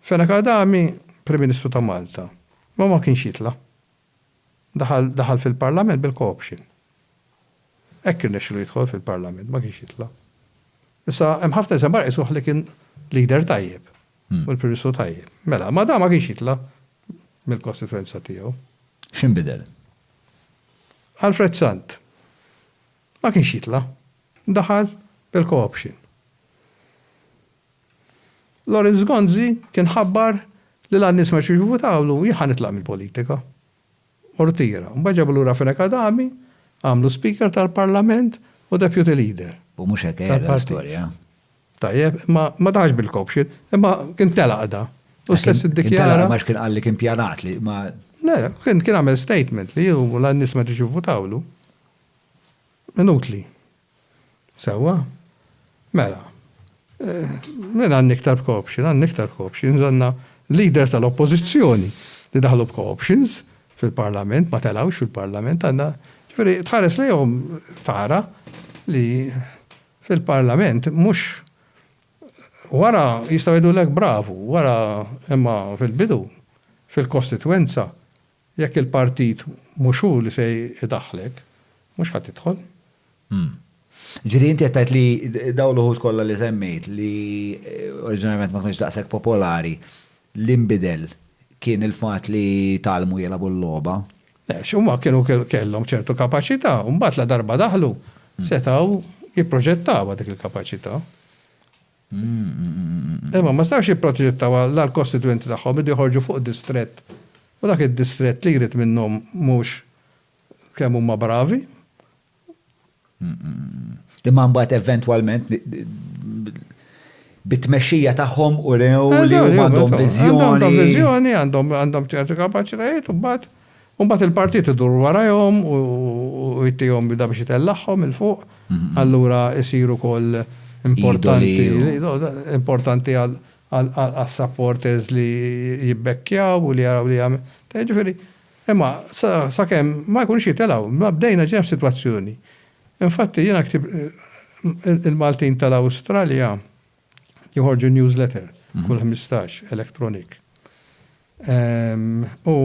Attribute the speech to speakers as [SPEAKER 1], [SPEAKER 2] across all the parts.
[SPEAKER 1] Fenech Adami, Prim Ministru ta' Malta, ma ma kienx jitla'. Daħal daħal fil-Parlament bil-co-option. Hekk irnexxilu jidħol fil-Parlament, ma kienx jitla'. Issa hemm ħafna nies hemm barra jqisuh li kien leader tajjeb u l-Prim Ministru tajjeb. Mela, ma dan ma kienx jitla' mill-kostitwenza tiegħu. X'inbidel? Alfred Sant. Ma kienx jitla'. Daħal bil-co-option. Lawrence Gonzi kien ħabbar li l-għan-nies ma rixux jivvutawlu, jien ħa nitlaq mill-politika. U rtira. Mbagħad ġabu lura Fenech Adami, għamlu Speaker tal-Parlament u Deputy Leader. U mhux hekk qiegħda l-istorja. Tajjeb, imma ma daħalx bil-co-option, imma kien telaq da. U stess iddikjara. Kien telaq għax kien qal li kien pjanat li ma. Le, kien għamel statement li hu l-għan-nies ma rixux jivvutawlu. Inutli. Sewwa. Mela. Min għandni iktar b'co-option? Għandni iktar b'co-options, għandna l-leaders tal-Oppożizzjoni li daħlu b'co-options fil-Parlament, ma telgħux fil-Parlament, għandna, ġifieri tħares lejhom tara li fil-Parlament mhux wara jistgħu jgħidulek bravu, wara imma fil-bidu fil-kostitwenza Jekk il-partit mhux hu li se jdaħħlek, mhux ħa tidħol. Hm. Jiġifieri inti qed tgħid li dawn l-uħud kollha li semmejt li oriġinarjament ma kinux daqshekk popolari, li nbidel kien il-fatt li tgħallmu jilagħbu l-logħba? Le, għax huma kienu kellhom ċertu kapaċità u mbagħad ladarba daħlu setgħu jipproġettawha dik il-kapaċità. Imma ma setgħux jipproġettaw għall-kostitwenti tagħhom, iridu joħorġu fuq distrett u dak id-distrett li jrid minnhom mhux kemm huma bravi. Imma mbagħad eventwalment bit-tmexxija tagħhom urew li huma għandhom viżjoni. Għandhom viżjoni, għandhom ċertu kapaċitajiet u mbagħad U mbagħad il-partit idur warajhom u jtihom bida biex itellagħhom 'il fuq, allura jsir ukoll importanti importanti għas-supporters li jibbekkjaw u li jaraw li jagħmel. Jiġifieri, imma sakemm ma jkunux jitelgħu, ma bdejna ġejna f'sitwazzjoni. Infatti jiena ktibt il-Maltin tal-Awstralja. Joħorġu newsletter kull ħmistax electronic. U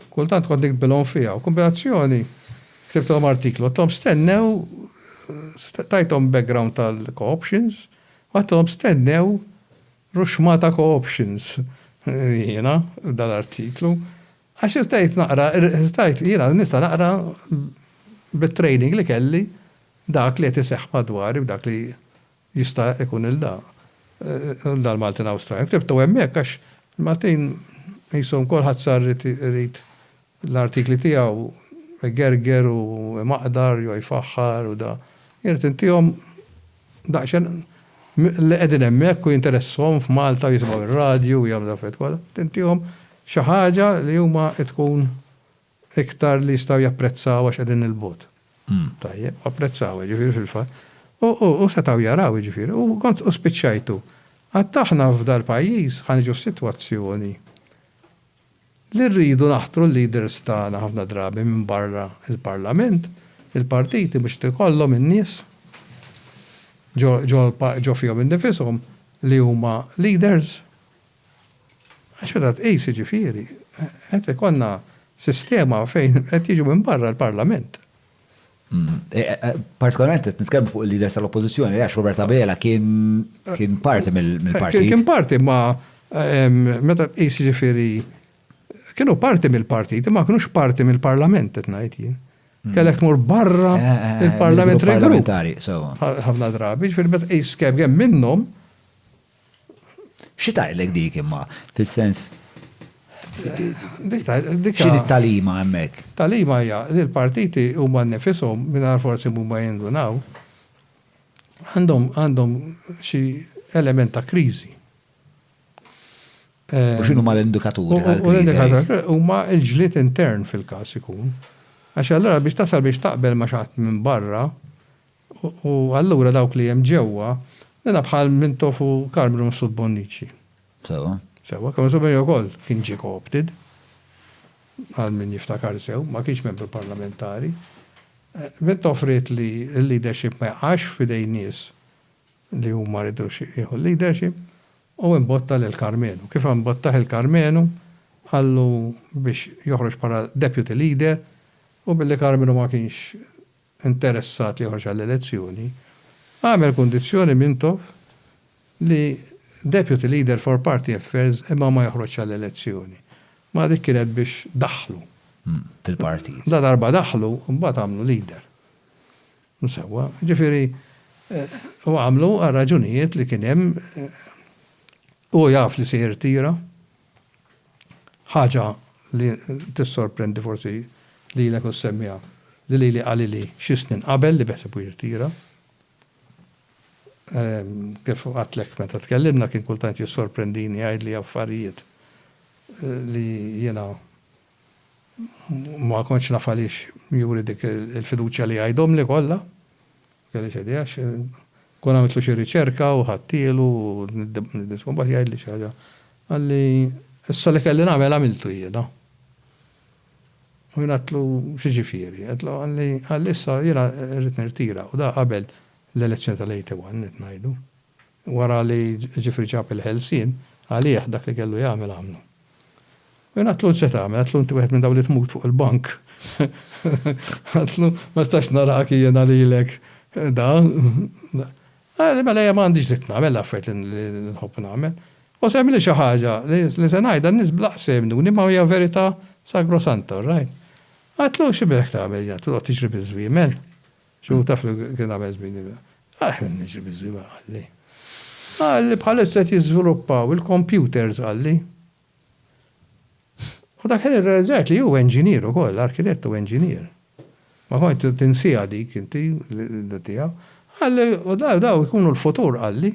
[SPEAKER 1] kultant kont nikbilhom fiha u kombinazzjoni ktibtilhom artiklu, għattilhom stennew tajthom background tal-co-options, għattilhom stennew ruxmata co-options jiena dal-artiklu. Għax irtajt naqra, irtajt jiena nista' naqra bit-training li kelli dak li qed iseħħ madwari u dak li Jista' jkun il da l Maltin Awstraljan ktibtu hemmhekk għax il-Maltin qishom kulħadd sar irid irid l-artikli tiegħu igerger u imaqdar jew jfaħħar u da. Jien irid intihom daqsxejn li qegħdin hemmhekk u jinteressahom f'Malta u jisimgħu r-radju u jagħmlu l-affarijiet kollha. Irid intihom xi ħaġa li huma tkun iktar li jistgħu japprezzaw għax qegħdin 'il bogħod. Tajjeb, u apprezzawha, jiġifieri fil-fatt. U, u, u setgħu jaraw, jiġifieri, u kont, u spiċċajtu. Għad aħna f'dal-pajjiż ħa niġu f'sitwazzjoni li rridu naħtru l-leaders tagħna ħafna drabi minn barra l-Parlament, il-partiti mhux qed ikollhom in-nies ġo, ġo, ġo fihom innifishom li huma leaders. Għax meta tqis, jiġifieri, qed ikollna sistema fejn qed jiġu minn barra l-Parlament. Partikolarment qed nitkellmu fuq il-leaders tal-Oppożizzjoni, għax Robert Abela kien parti mill-partit. Kien parti ma meta tqis jiġifieri kienu parti mill-partit, imma kienux parti mill-Parlament qed ngħid jien. Mm. Kellek tmur barra eh, eh, eh, il-Parlament regolamentari. Ħafna drabi, ġifieri meta tqis kemm hemm minnhom Xi tgħidlek dik imma, fis-sens x'inhi t-tagħlima hemmhekk? Tagħlima hija li l-partiti huma nnifishom, mingħajr forsi huma jindunaw, għandhom għandhom xi element ta' kriżi. U x'inhuma l-indikaturi tal-kriżi? Huma l-ġlied intern fil-każ ikun. Għax allura biex tasal biex taqbel ma' xi ħadd minn barra, U allura dawk li hemm ġewwa, nilgħab bħal Mintoff u Karl Brun f'Sud Bonnici. Sewwa. Sewwa, Karl Brun ukoll kien ġie co-opted, għal min jiftakar sew, ma kienx membru parlamentari. Mintoff ried li l-leadership ma jaqax f'idejn nies li hu ma ridux jieħu l-leadership u imbotta lil Karmenu. Kif imbottah il-Karmenu, qallu biex joħroġ bħala deputy leader u billi Karmenu ma kienx interessat li joħroġ għall-elezzjoni, għamel kundizzjoni Mintoff li Deputy Leader for Party Affairs imma ma joħroġx għall-elezzjoni. Mela dik kienet biex daħħlu. Fil-partit. Ladarba daħħlu, imbagħad għamlu leader. Msewwa. Jiġifieri, u għamlu għar-raġunijiet li kien hemm, hu jaf li se jirtira, Ħaġa li tissorprendi forsi lilek u ssemmiha li lili qalili xi snin qabel li beħsibu jirtira. Kif għedtlek meta tkellimna kien kultant jissorprendini jgħidli affarijiet li jiena ma kontx naf għaliex juri dik il-fiduċja li jgħidhomli kollha. Kelli x'għedi għax kont għamiltlu xi riċerka u ħadtielu u niddisku mbagħad jgħidli xi ħaġa. Qalli, Issa li kelli nagħmel għamiltu jiena. U jien għedtlu, X'jiġifieri? Għedtlu, Qalli, Issa jiena rrid nirtira u da qabel l-elezzjoni tal-81 qed ngħidu. Wara li Ġifri ġab il-ħelsien, għalih dak li kellu jagħmel għamlu. U jien għedtlu, 'Int se tagħmel? Għedtlu, 'Inti wieħed minn dawk li tmut fuq il-bank. Għedtlu, 'Ma nistax narak jiena lilek dan. Qalli, 'Mela jien ma għandix dritt nagħmel l-affarijiet li nħobb nagħmel. U se għemilli xi ħaġa li se ngħidha n-nies bl-għaqs se jemmnuni imma hija verità sagrosanta, orrajt? Għedtlu, 'X'inbidlek tagħmel? Għedtlu, 'Toqgħod tiġri biż-żwiemel? X'hu taf li kien għamel żmini miegħi? Għaliex qed niġri biż-żwiemel, qalli. Qalli bħalissa qed jiżviluppaw il-kompjuters, qalli. U dak il-ħin irrealizzajt li hu enġinier ukoll, arkitett u enġinier. Ma kontx tinsiha dik inti, l-idea tiegħu. Qalli, u dawn ikunu l-futur, qalli.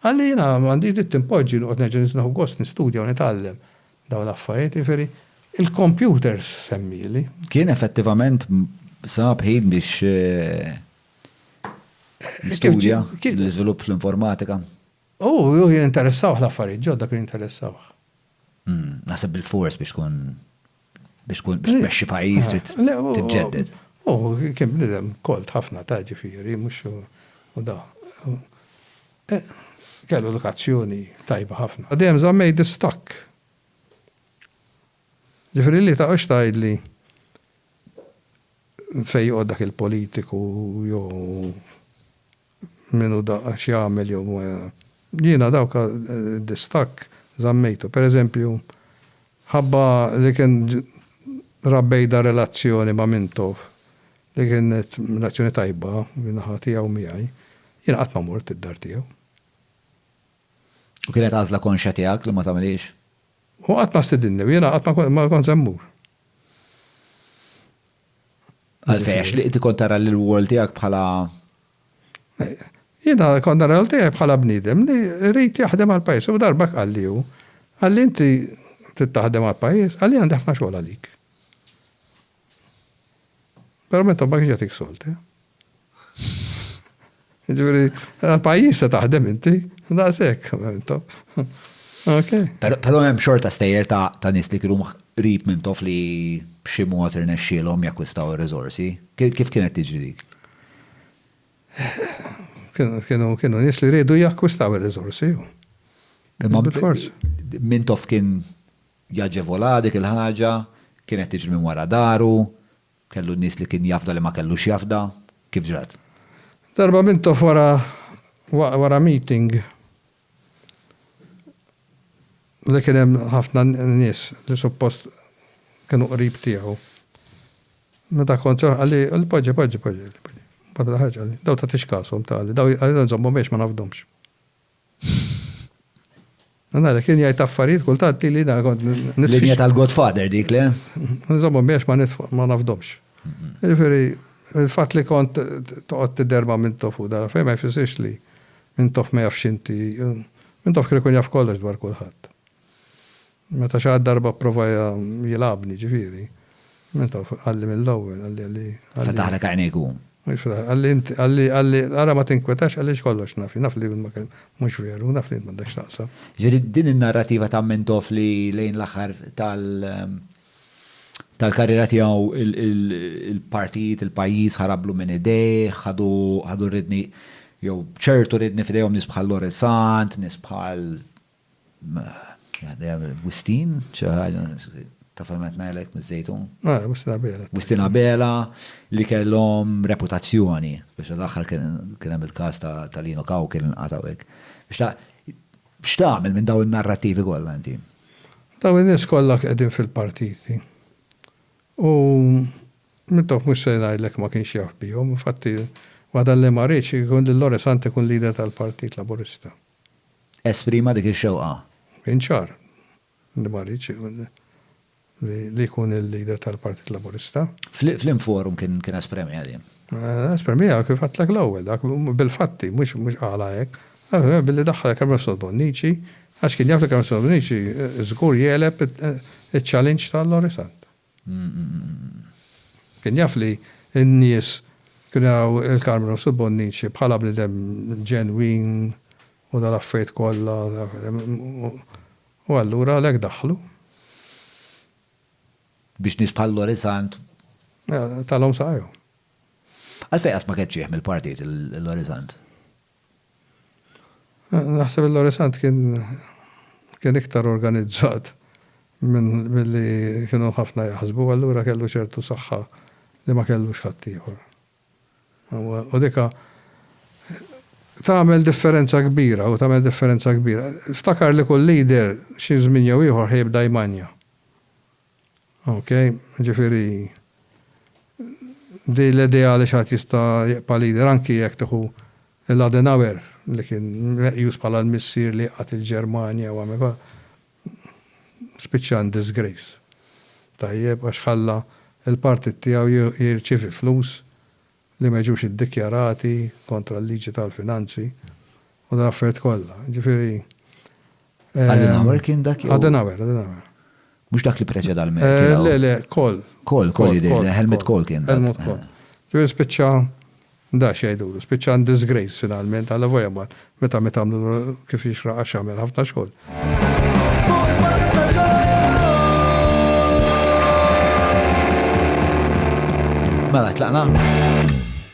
[SPEAKER 1] Għalli jiena m'għandix dritt inpoġġi noqgħod nerġa' nieħu gost nistudja u nitgħallem dawn l-affarijiet, jiġifieri l-computers semmieli. Kien effettivament sab ħin biex jistudja l-iżvilupp fl-informatika? Hu, hu kien interessawh l-affarijiet ġodda, kienu jinteressawh. Naħseb bil-fors biex tkun Biex tkun biex tmexxi pajjiż trid tiġġedded. U kien bniedem kolt ħafna ta' ġifieri mhux u da. Kellu edukazzjoni tajba ħafna. U dejjem żammejt distakk. Ġifieri li taqgħodx tgħidli fejn joqgħod dak il-politiku jew. min hu daqqa, x'jagħmel jew ma Jiena dawk id-distakk żammejtu. Per eżempju, ħabba li kien ra bejda relazzjoni ma' Mintoff li kienet relazzjoni tajba min-naħa tiegħu u miegħi, jiena qatt ma mort id-dar tiegħu. U kienet għażla konxja tiegħek li ma tagħmilhiex? Hu qatt ma stidinni u jiena qatt ma kont se mmur. Għalfejn għax li inti kont tara lil wol tiegħek bħala Jiena kont nara lil tiegħi bħala bniedem li jrid jaħdem għall-pajjiż u darba qalli hu, qalli inti trid taħdem għall-pajjiż, qalli għandi ħafna xogħol għalik. Però meta ma kienx jagħtik sold, eh? Ġviri, għal-pajis se taħdem inti, da' sekk, Ok. Pero hemm xorta stejjer ta' nis li kienu rib minn tof li b'xi mod irnexxielhom jakkwistaw ir-riżorsi. Kif kienet tiġri dik? Kienu kienu nis li rridu jakkwistaw ir-riżorsi. Imma bil-fors. Minn tof kien jaġevola dik il-ħaġa, kienet tiġri minn wara daru, Kellu nies li kien jafda li ma kellux jafda? Kif ġrat? Darba Mintoff wara wara meeting li kien hemm ħafna nies li suppost kienu qrib tiegħu, meta kont se noħroġ qalli, qalli poġġi, poġġi, poġġi, poġġi. Mbagħad meta ħarġt qalli, dawn tagħtix kashom, ta' qalli, dawn qalli nżommhom għax ma nafdhomx. Nara, kien jgħid affarijiet kultant li li kont nitfix. Linja tal-Godfather dik le? Nżommhom biex ma nitfa' ma nafdomx. Jiġifieri il-fatt li kont toqgħod tidher ma' Mintoff u dara fejn ma jfissirx li Mintoff ma jafx inti. Mintoff kien ikun jaf kollox dwar kulħadd. Meta xi darba pprova jilgħabni, jiġifieri, meta qalli mill-ewwel, qalli, qalli, qalli. Fetaħlek għajnejk hu. Mhux fetaħlek, qalli int, qalli, qalli, ara ma tinkwetax għaliex kollox naf jien, naf li ma kellek, mhux veru, naf li int m'għandek x'taqsam. Jiġifieri din in-narrattiva ta' Mintoff li lejn l-aħħar tal, tal-karriera tiegħu il-partijiet, il-pajjiż ħarablu minn idejh, ħadu, ħadu r-ridni, jew ċertu ridni f'idejhom nies bħal Loresant, nies bħal Wistin, xi ħaġa, taf fejn qed ngħidlek miż-Żejtun? Ah, Wistin Abela. Wistin Abela li kellhom reputazzjoni biex l-aħħar kien hemm il-każ ta' Lino Kaw kien inqatgħu hekk. X'tagħmel minn dawn in-narrattivi kollha inti? Dawn in-nies kollha qegħdin fil-partiti. U Mintoff mhux se ngħidlek ma kienx jaf bihom, infatti waħda li ma riedx ikun lil Lore Sant ikun leader tal-Partit Laburista. esprima dik ix-xewqa. Kien ċar li ma riedx li jkun il-leader tal-Partit Laburista. F'liema forum kien espremiha din? Espremiha kif għedtlek l-ewwel, dak bil-fatti, mhux qalha hekk. Billi daħħal il-Kermessol Bonnici, għax kien jaf li Kermessol Bonnici żgur jegħleb iċ-challenge ta' Lorry Sant. Kien jaf li n-nies kienu jaraw il-Carmenos u l-Bonnici bħala bniedem ġenwin u dal-affarijiet kollha u allura għalhekk daħħlu. Biex nies bħal Lorisant. Talhom saqajhom. Għalfejn qatt ma keċċieh mill-partit il-Lorisant? Naħseb il-Lorisant kien kien iktar organizzat minn milli kienu ħafna jaħsbu, allura kellu ċertu saħħa li ma kellux ħaddieħor. U dik tagħmel differenza kbira u tagħmel differenza kbira. Ftakar li kull leader xi żmien jew ieħor ħa jibda jmanja. Ok, ġifieri din l-idea li xi ħadd jista' jibqa' leader anki jekk tieħu lil Adenauer li kien meqjus bħala l-missier li jqgħad il-Ġermanja u għamel kollha, spiċċa in disgrace. Tajjeb, għax ħalla l-partit tiegħu jirċievi flus li ma jiġux iddikjarati kontra l-liġi tal-finanzi u dal-affarijiet kollha. Jiġifieri. Adenauer kien dak jew? Adenauer, Adenauer. Mhux dak li preċeda l-Merkel. Le, le, Kohl. Kohl, Kohl jidhirli, Helmut Kohl kien dak. Helmut Kohl. Ġifieri spiċċa da x'jgħidulu, spiċċa in disgrace finalment, allavolja mbagħad Meta miet għamlu kif jixraq għax għamel ħafna xogħol. Mela tlaqna?